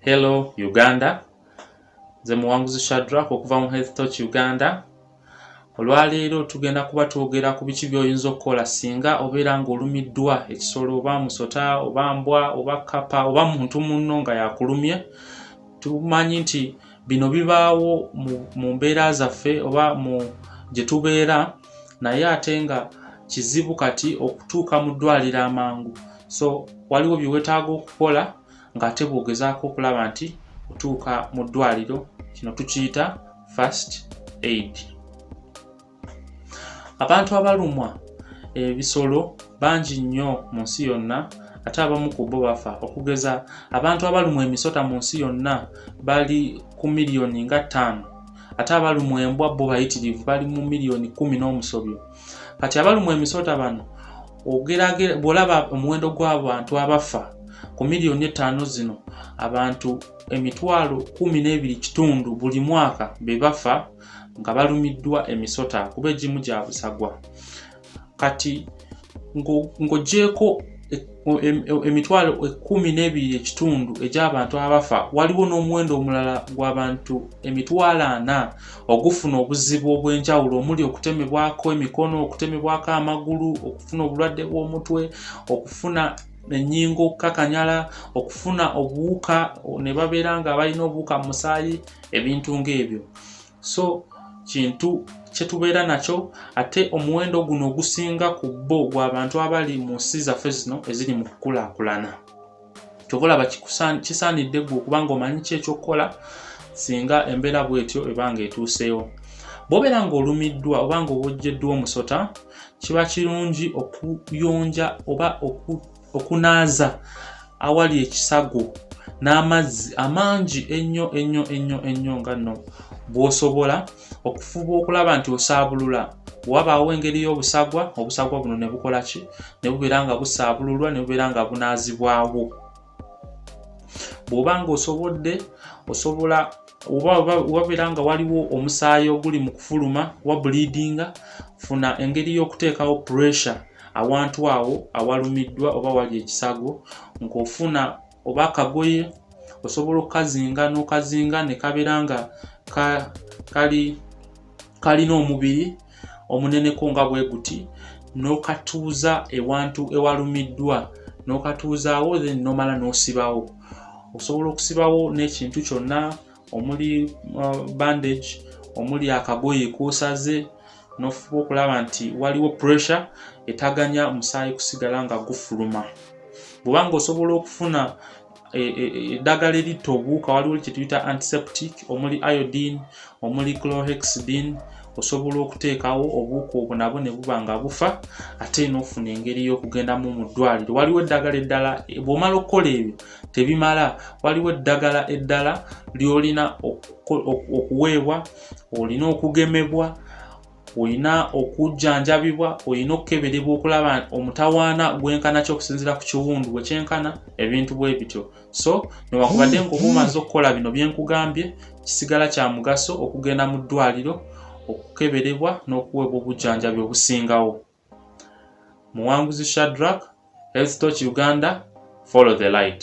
Hello Uganda, nze Muwanguzi Shadrack okuva mu Health Touch Uganda. Olwaleero tugenda kuba twogera ku biki by'oyinza okukola singa obeera ng'olumiddwa ekisolo oba musota oba mbwa oba kkapa oba muntu munno nga yakulumye. Tumanyi nti bino bibaawo mu mbeera zaffe oba mu gye tubeera naye ate nga kizibu kati okutuuka mu ddwaliro amangu. So waliwo bye weetaaga okukola ng'ate bw'ogezaako okulaba nti otuuka mu ddwaliro kino tukiyita first aid abantu abalumwa ebisolo bangi nnyo mu nsi yonna ate abamu ku bo bafa okugeza abantu abalumwa emisota mu nsi yonna bali ku miliyoni nga ttaano ate abalumwa embwa bo bayitirivu bali mu miliyoni kumi n'omusobyo kati abalumwa emisota bano bwolaba omuwendo gw'abantu abafa ku miliyoni ettaano zino abantu emitwalo kumi n'ebiri kitundu buli mwaka be bafa nga balumiddwa emisota kuba egimu gya busagwa kati ng'ogyeko emitwalo ekkumi n'ebiri ekitundu egy'abantu abafa waliwo n'omuwendo omulala gw'abantu emitwalo ana ogufuna obuzibu obw'enjawulo omuli okutemebwako emikono okutemebwako amagulu okufuna obulwadde bw'omutwe okufuna enyingo okukakanyala okufuna obuwuka ne babeera nga balina obuwuka mu musaayi ebintu ng'ebyo so kintu kyetubeera nakyo ate omuwendo guno ogusinga ku bbo gwabantu abali mu nsi zaffe zino eziri mu kukulaakulana kyovolaba kisaanidde gwe okuba nga omanyi ki ekyokukola singa embeera bwetyo ebanga etuuseewo bwobeera nga olumiddwa oba nga obojjeddwa omusota kiba kirungi okuyonja oba okunaaza awali ekisago n'amazzi amangi ennyo ennyo ennyo ennyo nga nno bwosobola okufuba okulaba nti osaabulula wabaawo engeri y'obusagwa obusagwa buno ne bukola ki ne bubeera nga busaabululwa ne bubeera nga bunaazibwawo bw'oba nga osobodde osobola wabeera nga waliwo omusaayi oguli mu kufuluma wa buliidinga funa engeri y'okuteekawo pressure awantu awo awalumiddwa oba wali ekisago ng'ofuna oba akagoye osobola okukazinga n'okazinga ne kabeera nga kali kalina omubiri omuneneko nga bwe guti n'okatuuza ewantu ewalumiddwa n'okatuuzaawo then n'omala n'osibawo osobola okusibawo n'ekintu kyonna omuli uh, bandage omuli akagoye k'osaze n'ofuba okulaba nti waliwo pressure etaganya musaayi kusigala nga gufuluma bwoba nga osobola okufuna e, e, e, eddagala eritta obuwuka waliwo kyetuyita antiseptic omuli iodine omuli clohexidine osobola okuteekawo obuwuka obwo nabwo ne buba nga bufa ate n'ofuna engeri y'okugendamu mu ddwaliro waliwo eddagala eddala bw'omala okukola ebyo tebimala waliwo eddagala eddala ly'olina okuweebwa olina okugemebwa olina okujjanjabibwa olina okukeberebwa okulaba omutawaana gwenkanaki okusinzira ku kiwundu bwe kyenkana ebintu bwe bityo so newakubadde nga oba omaze okukola bino bye nkugambye kisigala kya mugaso okugenda mu ddwaliro okukeberebwa n'okuweebwa obujjanjabi obusingawo muwanguzi shadrak health toch uganda follow the light